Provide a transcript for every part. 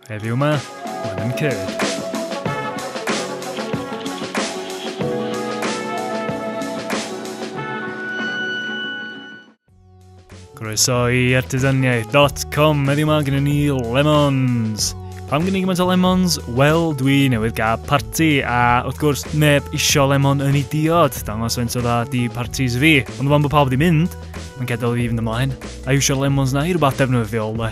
Heddiw yma, mae'n yn cyrdd. Croeso i artisaniaeth.com, heddiw yma gyda ni lemons. Pam gen i gymaint o lemons? Wel, dwi newydd gael parti, a wrth gwrs, neb isio lemon yn ei diod. Dangos faint o dda di partis fi. Ond fan bod pawb wedi mynd, mae'n gadael fi fynd ymlaen. A iwsio lemons na i rhywbeth defnyddiol, le.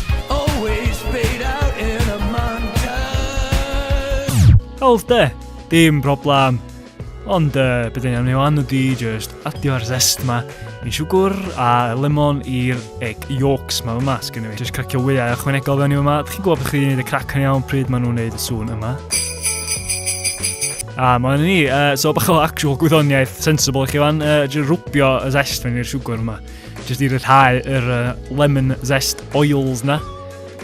Always paid out in a montage. Hawdd de, dim problem. Ond uh, beth yn iawn ni wan ydi just adio'r zest ma i siwgwr a lemon i'r egg yolks ma yma sgyn i fi. Just cracio wyau a chwanegol fewn i yma. Dych chi'n gwybod beth chi'n gwneud y crac yn iawn pryd maen nhw'n gwneud y sŵn yma. A mae hynny ni, uh, so bach o actual gwyddoniaeth sensible chi fan, uh, rwbio y zest mewn i'r siwgwr yma. Jyst i ryddhau yr uh, lemon zest oils na.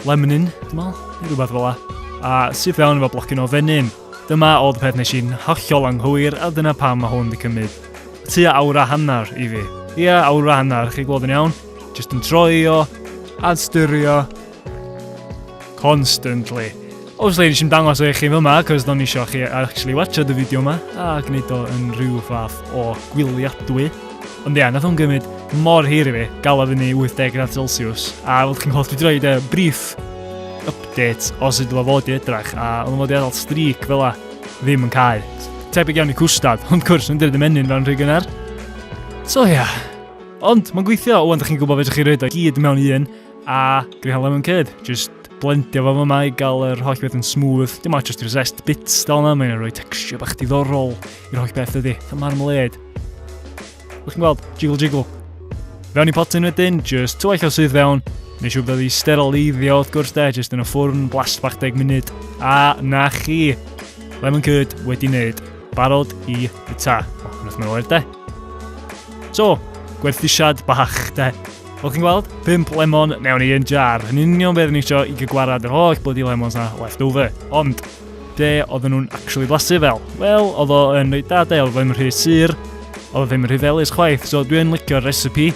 Lemonin, dwi'n meddwl, neu rhywbeth fel la. A syth iawn efo blocyn o fenyn. Dyma oedd peth nes i'n hollol anghywir a dyna pam mae hwn wedi cymryd tua awr a hanner i fi. Ia, awr a hanner, chi gweld yn iawn. Jyst yn troi o, adstyrio, Constantly. Obviously, nes i'n dangos eich chi yma, cos do'n eisiau chi actually watcha dy fideo yma, a gwneud o yn rhyw fath o gwyliadwy. Ond ia, nath o'n gymryd mor hir i fi, gael o fyny 80 gradd Celsius, a fel chi'n holl fi droi dy brief update o sut oedd o fod i edrach, a oedd o'n fod i adael streak fel a ddim yn cael. Tebyg iawn i cwstad, ond cwrs yn dyrdd y menyn fel yn rhy gynnar. So ia, yeah. ond mae'n gweithio, ond chi'n gwybod fedrwch chi roed o gyd mewn un, A dwi'n cael lemon curd, jyst blendio fo yma i gael yr holl beth yn smooth. Dim ots os ti'n zest bits dal yna, mae'n rhoi texture bach diddorol i'r holl beth ydy. Fatha marmalade. Ydych chi'n gweld? Jiggle jiggle. Fewn i potyn wedyn, just tywaith o sydd fewn. Neu siw bydd i steroleiddio wrth gwrs de, just yn y ffwrn, blast bach deg munud. A na chi, lemon curd wedi wneud. Barod i y ta. O, yn o'r de. So, gwerthusiad bach de. Fel chi'n gweld, 5 lemon mewn i un jar. Yn union beth yn eisiau i gygwarad yr holl bloody lemons na left over. Ond, be oedden nhw'n actually blasu fel? Wel, oedd o yn reit da de, oedd ddim yn rhy sur, oedd o ddim yn rhy felus chwaith, so dwi'n licio'r recipe.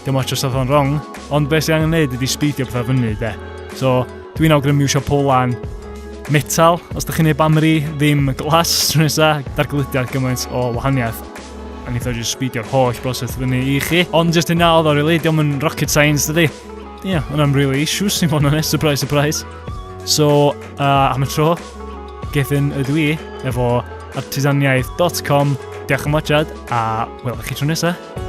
Dim ots os oedd o'n wrong, ond beth sy'n angen neud ydy sbeidio pethau fyny de. So, dwi'n awgrymu eisiau polan metal, os da chi'n ei bamri, ddim glas, tro nesaf, darglydiad gymaint o wahaniaeth. A wneith o jyst sbidio'r holl broses fyny i chi. Ond jyst hynna oedd o really, diolch yn rocket science dydy. Ie, yeah, hwnna'n really issues i fod yn honest, surprise, surprise. So, uh, am y tro, gethyn y dwi efo artisaniaeth.com. Diolch am watchad a welwch chi tro nesaf.